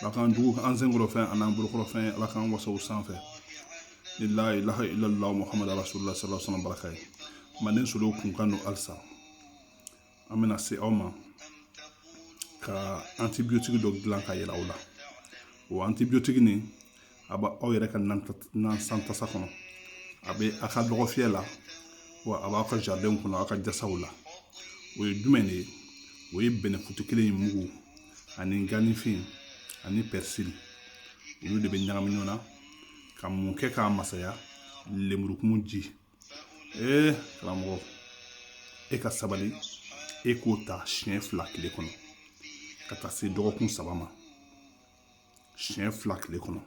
ala k'an jugu kɛ an senkɔrɔ fɛn ani an bolokɔrɔ fɛn ala k'an wasa u sanfɛ ni layi lahi ilala muhamadu rasulila sallallahu alaihi wasallam baraka ye manden solo kun kan don halisa an bɛna se aw ma ka antibiyotigi dɔ dilan k'a yira aw la o antibiyotigi nin a b'aw yɛrɛ ka nan san tasa kɔnɔ a bɛ a ka dɔgɔfiyɛ la wa a b'aw ka jaridɛnw kɔnɔ aw ka jasaw la o ye jumɛn de ye o ye bɛnɛfutu kelen in mugu ani ganifin ani pɛrisili olu de bɛ ɲagami ɲɔgɔn na ka mun kɛ k'a masaya lemurukumu ji ee karamɔgɔ e ka sabali e k'o ta siɲɛ fila tile kɔnɔ ka taa se dɔgɔkun saba ma siɲɛ fila kile kɔnɔ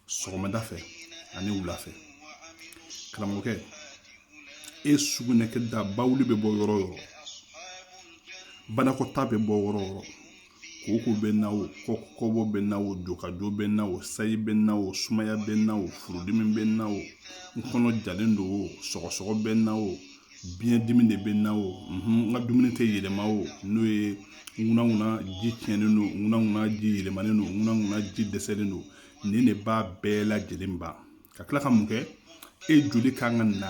sɔgɔmada fɛ ani wula fɛ karamɔgɔkɛ e sugunɛ kɛ da bawuli bɛ bɔ yɔrɔ o yɔrɔ banakɔta bɛ bɔ yɔrɔ o yɔrɔ koko bɛ n na o kɔkɔbɔ bɛ n na o jokajo bɛ n na o sayi bɛ n na o sumaya bɛ n na o furudimi bɛ n na o n kɔnɔ jalen don o sɔgɔsɔgɔ bɛ n na o biyɛn dimi de bɛ n na o n ka dumuni tɛ yɛlɛma o n'o ye ŋunanŋunan ji tiɲɛnen don ŋunanŋunan ji yɛlɛmalen don ŋunanŋunan ji dɛsɛlen don nin de b'a bɛɛ lajɛlen ban ka tila ka mun kɛ e joli kan ka na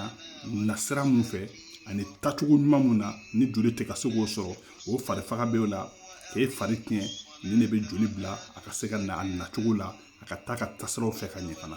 nasira mun fɛ ani tacogo ɲuman mun na ni joli tɛ ka se k'o sɔrɔ o fari faga bɛ o la k'e fari tiɲɛ nin de bɛ joli bila a ka se ka na a nacogo la a ka taa ka tasiraw fɛ ka ɲɛ fana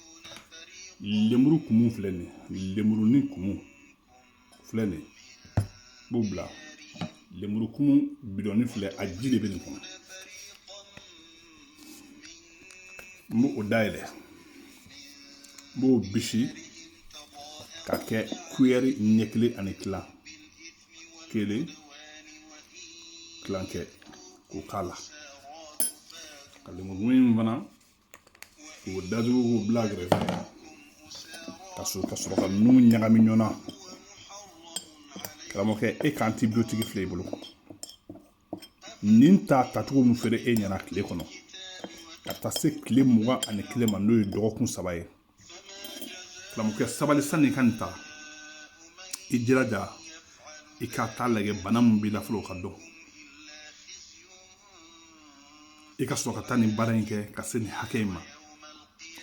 lemuru kumu filɛ nin ye lemurunin kumu filɛ nin ye n b'o bila lemuru kumu bidɔnnin filɛ a ji de bɛ nin kɔnɔ n b'o dayɛlɛ n b'o bisi k'a kɛ kuyɛri ɲɛ kelen ani kila kelen kilankɛ k'o k'a la ka lemuru in fana k'o datugu k'o bila kɛrɛfɛ ka sɔrɔ ka nun ɲagami ɲɔgɔn na karamɔgɔkɛ e ka antibiyotigi filɛ i bolo nin ta tacogo min fɔra e ɲɛna tile kɔnɔ ka taa se tile mugan ani kelen ma n'o ye dɔgɔkun saba ye karamɔgɔkɛ sabali sani i ka nin ta i jilaja i ka taa lajɛ bana min b'i la fɔlɔ o ka dɔn i ka sɔrɔ ka taa nin baara in kɛ ka se nin hakɛ in ma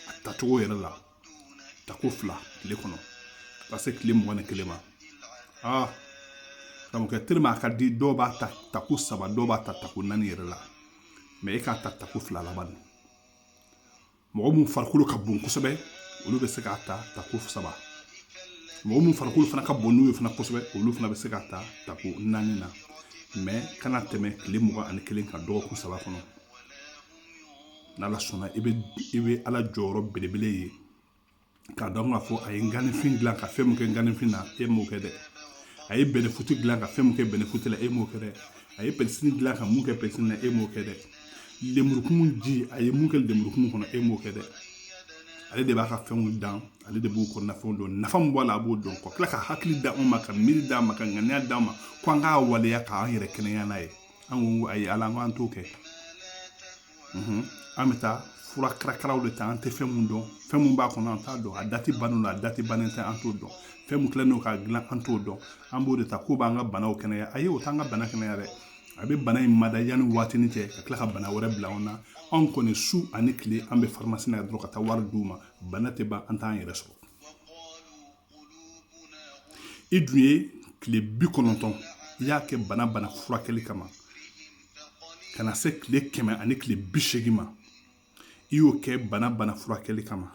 a tacogo yɛrɛ la tako fila tile kɔnɔ ka taa se tile mugan ni kelen ma aa karamɔgɔkɛ tellement a ka di dɔw b'a ta tako saba dɔw b'a ta tako naani yɛrɛ la mɛ e k'a ta tako fila laban mɔgɔ mun farikolo ka bon kosɛbɛ olu bɛ se k'a ta tako saba mɔgɔ mun farikolo fana ka bon n'u ye fana kosɛbɛ olu fana bɛ se k'a ta tako naani na mɛ kana tɛmɛ tile mugan ani kelen kan dɔgɔkun saba kɔnɔ n'ala sɔnna i bɛ ala jɔyɔrɔ belebele ye k'a dɔn k'a fɔ a ye ganifin dilan ka fɛn min kɛ ganifin na e m'o kɛ dɛ a ye bɛnɛfuti dilan ka fɛn min kɛ bɛnɛfuti la e m'o kɛ dɛ a ye pɛrisiri dilan ka mun kɛ pɛrisiri na e m'o kɛ dɛ lemurukumu ji a ye mun kɛ lemurukumu kɔnɔ e m'o kɛ dɛ ale de b'a ka fɛnw dan ale de b'u kɔnɔna fɛnw dɔn nafa min b'a la a b'o dɔn ka tila ka hakili di anw ma ka miiri d'an ma ka ŋaniya d'an ma ko an k'a waleya k'an yɛrɛ kɛnɛya n'a ye an ko ayi ala an k'an t'o kɛ an bɛ taa fura karakaraw de ta an tɛ fɛn mun dɔn fɛn mun b'a kɔnɔ an t'a dɔn a dati bannen don a dati bannen tɛ an t'o dɔn fɛn mun kɛlen don k'a dilan an t'o dɔn an b'o de ta k'o b'an ka banaw kɛnɛya ayi o t'an ka bana kɛnɛya dɛ a bɛ bana in mada yanni waatini cɛ ka tila ka bana wɛrɛ bila anw na anw kɔni su ani tile an bɛ faramasi na dɔrɔn ka taa wari d'u ma bana tɛ ban an t'an yɛrɛ sɔrɔ i dun ye tile bi kɔnɔntɔn i y'a kɛ bana bana furakɛli kama ka na se tile kɛmɛ ani tile bi seegin ma i y'o kɛ bana bana furakɛli kama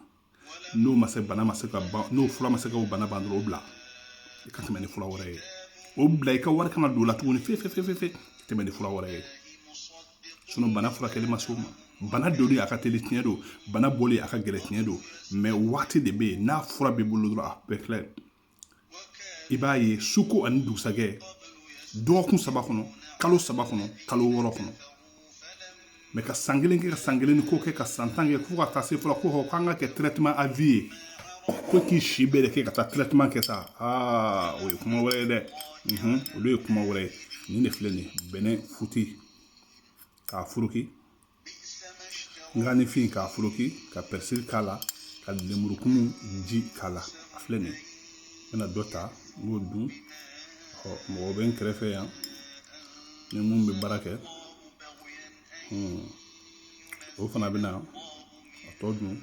n'o ma se bana ma se ka ban n'o fura ma se ka o bana ban dɔrɔn o bila i ka tɛmɛ ni fura wɛrɛ ye o bila i ka wari kana don o la tuguni fe fe fe fe fe tɛmɛ ni fura wɛrɛ ye sinɔn bana furakɛli ma s'o ma bana donni a ka teli tiɲɛ don bana bɔli a ka gɛlɛ tiɲɛ don mɛ waati de bɛ yen n'a fura b'i bolo dɔrɔn a bɛɛ filɛ i b'a ye suko ani dugusajɛ dɔgɔkun saba kɔnɔ kalo saba kɔnɔ kalo wɔɔrɔ kɔnɔ mɛ ka san kelen kɛ ka san kelen ni ko kɛ ka san tan kɛ fo ka taa se fɔlɔ ko hɔ k'an ka kɛ trɛtema a vie ye ko k'i si bɛɛ de kɛ ka taa trɛtema kɛ sa aa o ye kuma wɛrɛ ye dɛ olu ye kuma wɛrɛ ye nin de filɛ nin ye bɛnɛfuti k'a furuki nganifin k'a furuki ka pɛrisiri k'a la ka lemurukumu ji k'a la a filɛ nin ye n bɛna dɔ ta n b'o dun ɔ mɔgɔ bɛ n kɛrɛfɛ yan ni mun bɛ baara kɛ o fana bɛna a tɔ dun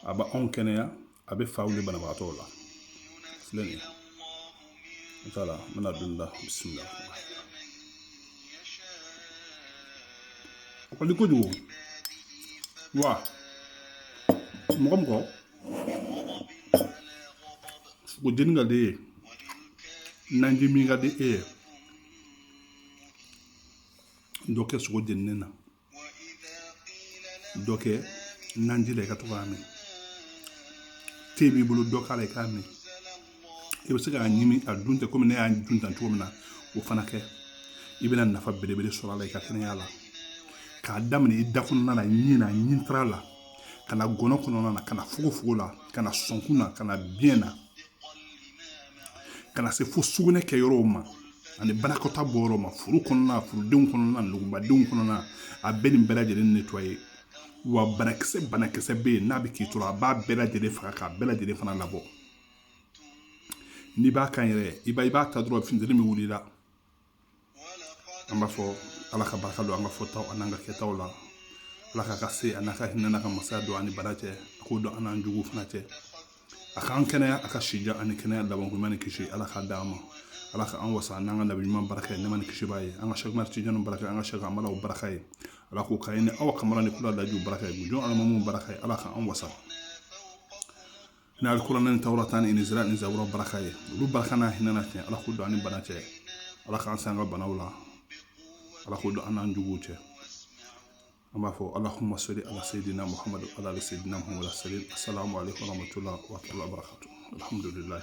a bɛ anw kɛnɛya a bɛ fa wuli banabagatɔ la filɛ nin ye inshallah n bɛna don da bisimila o ka di kojugu wa mɔgɔ mɔgɔ sogo jeni ka di e ye naji min ka di e ye dɔ kɛ sogo jeninen na dɔ kɛ naji la i ka to k'a min te b'i bolo dɔ k'a la i k'a min i bɛ se k'a ɲimi a dun ten komi ne y'a dun tan cogo min na o fana kɛ i bɛna nafa belebele sɔrɔ a la i ka kɛnɛya la k'a daminɛ i da kɔnɔna na ɲin na ɲintara la ka na gɔnɔ kɔnɔna na ka na fogofogo la ka na sɔnkun na ka na biyɛn na ka na se fo sugunɛ kɛ yɔrɔw ma ani banakɔta bɔ yɔrɔ ma furu kɔnɔna furudenw kɔnɔna nugubadenw kɔnɔna a bɛ nin bɛɛ lajɛlen nettoyer wa banakisɛ banakisɛ bɛ yen n'a bɛ k'i tɔɔrɔ a b'a bɛɛ lajɛlen faga k'a bɛɛ lajɛlen fana labɔ n'i b'a kan yɛrɛ i b'a i b'a ta dɔrɔn funteni bɛ wuli i la an b'a fɔ ala ka barika don an ka fɔtaw an'an ka kɛtaw la ala k'a ka se an'a ka hinɛ n'a ka masaya don an ni bana cɛ a k'o don an n'an juguw fana cɛ a k'an kɛnɛya a ka sijan ani kɛnɛya labankoɲuman ni kisi ala k'a d'an ma ala ka an wasa n'an ka nabi ɲuman baraka ye nɛɛma ni kisi b'a ye an ka sɛku umari tijani baraka an ka sɛki amala baraka ye ala k'o k'an ye ni aw kamara ni kula lajiw baraka ye gujon alimamu baraka ye ala ka an wasa ni alikuranɛ ni tawurata ni inzira ni zabura baraka ye olu barika n'a hinɛ n'a tiɲɛ ala k'o don an ni bana cɛ ala k'an se an ka banaw la ala k'o don an n'an juguw cɛ an b'a fɔ alahuma sali ala sayidina muhamadu ala ali sayidina muhamadu sali asalamu aleykum warahmatullahi wabarakatuh alhamdulilayi